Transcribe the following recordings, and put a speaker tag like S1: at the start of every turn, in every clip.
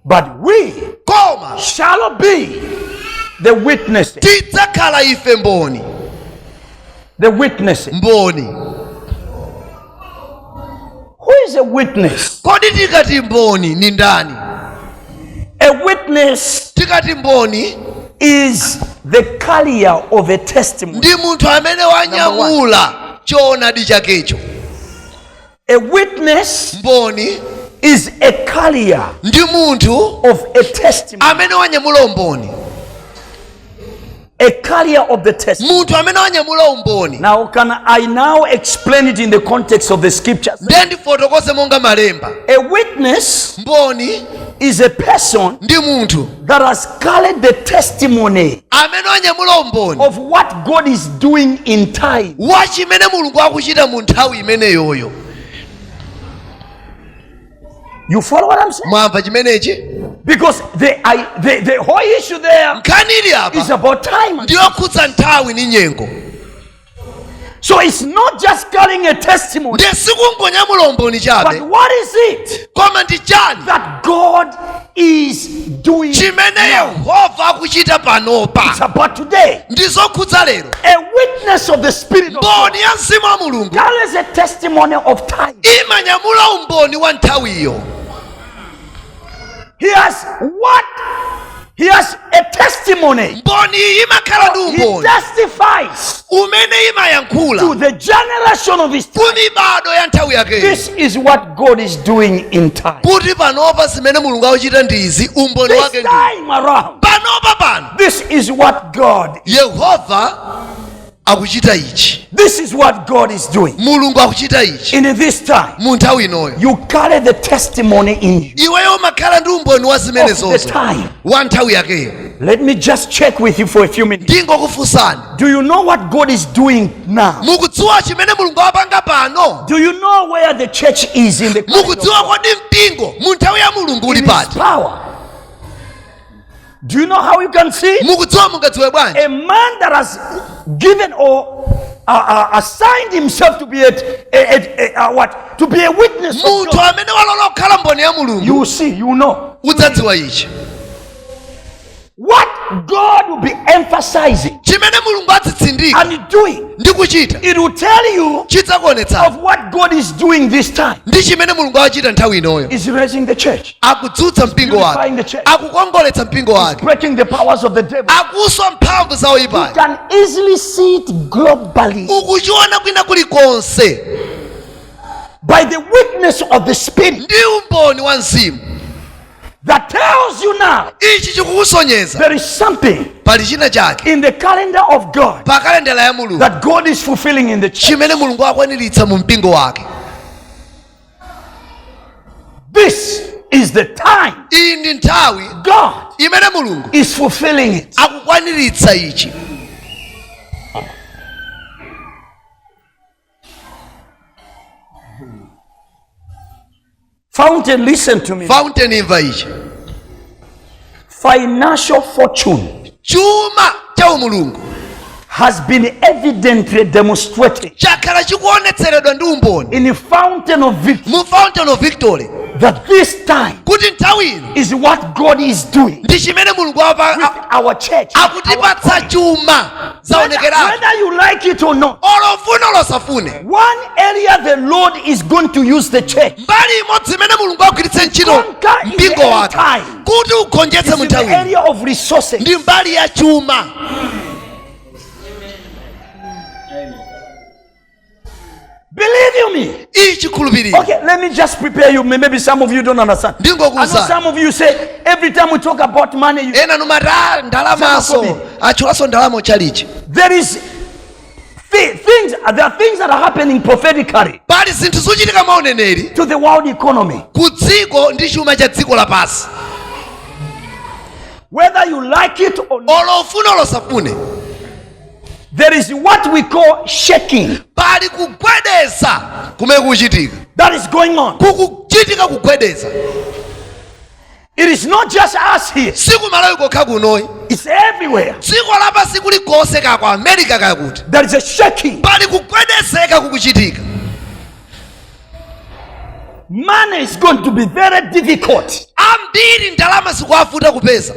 S1: but we koma shall be the witnesses tidzakhala ife
S2: mboni
S1: the witnesses mboni who is a witness kodi tikati
S2: mboni ni ndani
S1: a witness tikati mboni
S2: is
S1: the carrier of a testimony ndi munthu amene
S2: wanyamula choonadi chakecho
S1: A witness
S2: mboni is
S1: a carrier ndi
S2: munthu of a
S1: testimony. amene wanyamula
S2: umboni
S1: A carrier of the testimony. munthu amene
S2: wanyamula umboni Now, can
S1: I now explain it in the context of the scriptures? nde
S2: ndifotokoze monga malemba A witness
S1: mboni
S2: is a person
S1: ndi munthu
S2: that has carried
S1: the testimony amene wanyamula
S2: umboni of what God is
S1: doing in time. wa chimene mulungu
S2: akuchita mu nthawi imeneyoyo
S1: You follow what I'm saying? mwamva chimenechi
S2: Because the,
S1: I, the, the whole issue there nkhani ili is apa about time. ndiyokhudza nthawi
S2: ndi nyengo
S1: So it's not just carrying a testimony. Ndiye sikungonyamula umboni chabe. But what is it? Koma ndi chani? That God is doing now. Chimene Yehova akuchita panopa. It's about today. Ndizokhudza lero. A witness of the spirit of God. Mboni ya mzimu wa Mulungu. Carries a testimony of time. Imanyamula umboni wa nthawiyo. He has what He has a testimony. mboni iyi imakhala ndi He umboni testifies umene to imayankhula the generation of his time. ku mibado ya nthawi yakeyo This is what God is doing in time. kuti panopa zimene mulungu akuchita ndi izi umboni This wake ndi time around, panopa pano this is what God. yehova akuchita ichi This is what God is doing. mulungu akuchita ichi And in this time, mu nthawi inoyo you carry the testimony in you. iweyo umakhala ndi umboni wa zimene Of the zonse time. wa nthawi yakeyo Let me just check with you for a few minutes. ndingokufunsani Do you know what God is doing now? mukudziwa chimene mulungu akupanga pano Do you know where the church is in the kingdom? mukudziwa kodi mpingo mu nthawi ya mulungu uli His pati power. Do you know how you can see? mukudziwa mungadziwe bwanji A man that has given or uh, uh, assigned himself to be a, a, a, a, a what? To be a witness. Of munthu God. amene walola kukhala mboni ya mulungu You will see, you will know. udzadziwa ichi What God will be emphasizing chimene mulungu adzitsindika and doing, ndi kuchita it will tell you chidzakuonetsa of what God is doing this time. ndi chimene mulungu akuchita nthawi inoyo Is raising the church. akudzutsa mpingo wake akukongoletsa mpingo wake akuswa mphamvu za oyipayo ukuchiona kwina kulikonse by the witness of the spirit ndi umboni wa mzimu that tells you now ichi chikukusonyeza there is something pali china chake in the calendar of god pa kalendala ya mulungu that god is fulfilling in the church chimene mulungu akwaniritsa mu mpingo wake This is the time iyi ndi nthawi God imene mulungu is fulfilling it. akukwaniritsa ichi Fountain, listen to me. fountain imva ichi financial fortune chuma
S2: cha umulungu has
S1: been evidently demonstrated chakhala chikuonetseredwa ndi umboni in the fountain of victory mu fountain of victory
S2: that this
S1: time kuti nthawi ino is what God is doing ndi chimene mulungu apa- with a- our church. akutipatsa chuma zaonekera whether you like it or not olo ufune olo usafune one area the lord is going to use the church mbali imodzi imene mulungu agwiritse ntchito Conquer in mpingo the end wake time. kuti ugonjetse is mu in the nthawi area of resources ndi mbali ya chuma Believe you me. Ichi kulubiri. Okay, let me just prepare you. Maybe some of you don't understand. Ndingo kuza. I know some of you say every time we talk about money you Ena numara ndalama so. Achulaso ndalama chalichi. There is things there are things that are happening prophetically. Pali zinthu zochitika maoneneri. To the world economy. Kudziko ndi chuma cha dziko lapansi. Whether you like it or not. Olofuna olosafune. There is what we call shaking. Pali kugwedeza kumene kukuchitika. That is going on. Kukuchitika kugwedeza. It is not just us here. Siku Malawi kokha kunoyi. It's everywhere. Dziko lapansi kuli konse kaya ku America kaya kuti. There is a shaking. Pali kugwedezeka kukuchitika. Money is going to be very difficult. Ambiri
S2: ndalama zikuwavuta kupeza.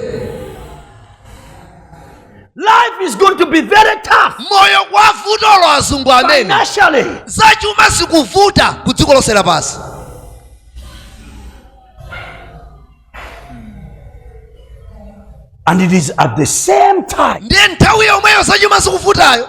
S1: Life is going to be very tough. moyo
S2: kuwavuta olo azungu amene
S1: Financially, zachuma
S2: zikuvuta ku dziko lonse lapansi
S1: and it is at the same time ndi nthawi yomweyo
S2: zachuma zikuvutayo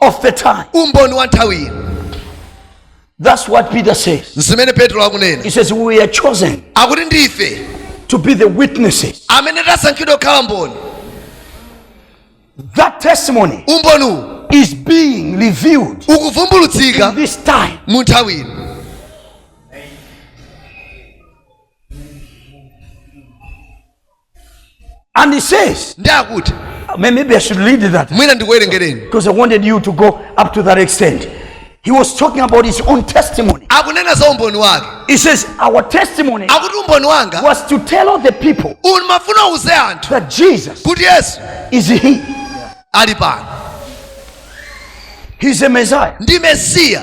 S1: of the time. umboni wa
S2: nthawi
S1: ino That's what Peter says. zimene petro
S2: akunena He says, We are chosen
S1: akuti ndi
S2: ife to be the
S1: witnesses. amene tasankhidwa
S2: kukhala mboni
S1: That testimony umboniwu
S2: is
S1: being revealed
S2: ukuvumbulutsika in this
S1: time. mu nthawi ino And he says, nde
S2: akuti "May- maybe I
S1: should read that mwina
S2: ndikuwerengereni because I wanted you
S1: to go up to that extent. He was talking about his own testimony. akunena za umboni
S2: wake He says, Our
S1: testimony akuti umboni
S2: wanga was to tell all
S1: the people umafuna
S2: uze anthu that Jesus
S1: kuti
S2: yesu is He.
S1: ali pano He's a Messiah. ndi mesiya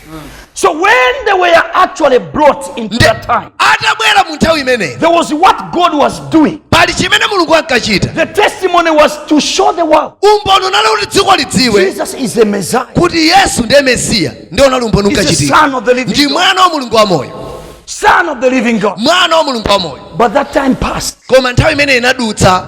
S1: So when they were actually brought into Nde- that time, atabwera mu
S2: nthawi imeneyi there was what God
S1: was doing. pali chimene mulungu
S2: ankachita The testimony was
S1: to show the world umboni unali kuti dziko
S2: lidziwe Jesus is the
S1: Messiah. kuti yesu
S2: ndiye mesiya ndiye unali umboni He's the unkachitika Son of the ndi
S1: living
S2: God.
S1: mwana wa
S2: mulungu wamoyo Son of the living
S1: God. mwana wa mulungu wamoyo
S2: But that time passed.
S1: koma nthawi
S2: imeneyi inadutsa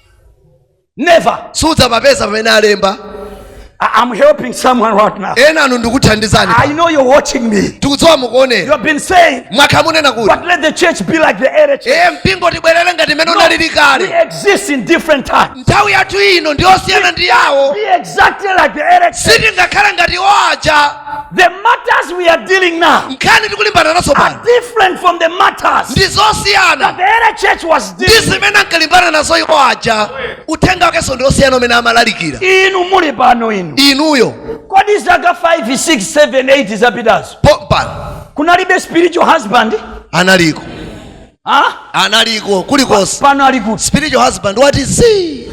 S2: Never. sudzapapeza pamene
S3: alemba I- I'm helping someone right now. enanu ndikuthandizani
S2: I know you're watching
S3: me. tikudziwa You mukuonera
S2: have been saying,
S3: mwakhala mukunena kuti but
S2: let the church be
S3: like the early church. ee mpingo tibwerere
S2: ngati m'mene unalili We kale
S3: exist
S2: in
S3: different times. nthawi yathu ino
S2: ndiyosiyana ndi yawo Be exactly like
S3: the early church. sitingakhale ngati iwo
S2: aja The matters
S3: we are dealing now nkhani tikulimbana nazo
S2: are pano different from the
S3: matters ndi that zosiyana
S2: the early church
S3: was ndi dealing with. zimene ankalimbana nazo
S2: iwo aja uthenga wakenso ndi osiyana umene amalalikira Inu muli pano
S3: inu. inuyo Kodi
S2: zaka
S3: 5, 6, 7, 8 zapitazo. pompano
S2: Kunalibe
S3: spiritual husband? analiko
S2: Ha?
S3: analiko Pa-
S2: kulikonse pano ali kuti spiritual
S3: husband wati
S2: zii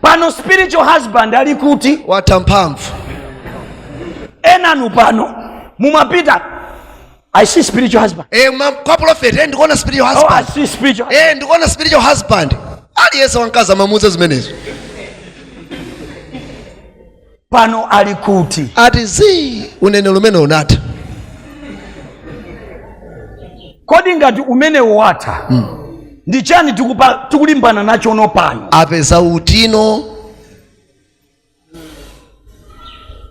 S3: pano spiritual husband ali kuti watha mphamvu enanu pano mumapita i see spiritual husband e, ma, kwa prophet e,
S2: ndikuona spiritual oh, i husband see spiritual
S3: e, ndikuona spiritual husband
S2: aliyense wamkazi amamuuza zimenezo
S3: pano ali kuti ati
S2: zii unenero umene
S3: unatha kodi ngati umenewo watha ndi chiyani tikupa- tikulimbana nacho no pano apeza utino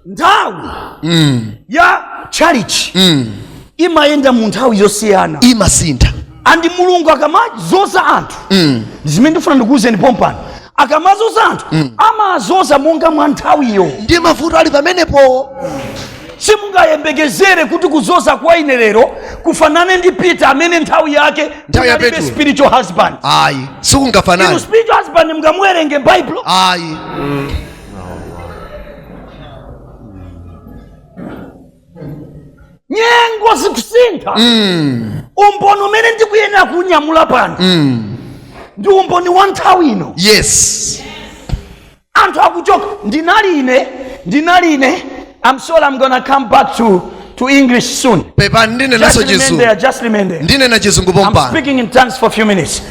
S3: nthawi ya tchalitchi imayenda mu nthawi yosiyana
S2: imasintha and
S3: mulungu akamazoza anthu mm. zimene ndifuna ndikuwuzeni pompano akamazoza anthu mm. amazoza monga mwa nthawiyo ndi mavuto ali
S2: pamenepo simungayembekezere
S3: kuti kuzoza kwa ine lero kufanane ndi peter amene nthawi yake Nthawi ya kunalibe Petro.
S2: spiritual
S3: husband ayi
S2: inu
S3: sikungafanane
S2: spiritual husband
S3: mungamuwerenge baibulo ayi nyengo zikusintha umboni umene ndikuyenera kunyamula pano ndi umboni wa nthawi ino yes anthu akuchoka ndinali ine ndinali ine i'm sure i'm gonna come back to, to english soon pepani ndinenanso just
S2: remain
S3: chizungu there just remain there
S2: ndinena
S3: chizungu i'm pompano speaking in tongues
S2: for
S3: a few minutes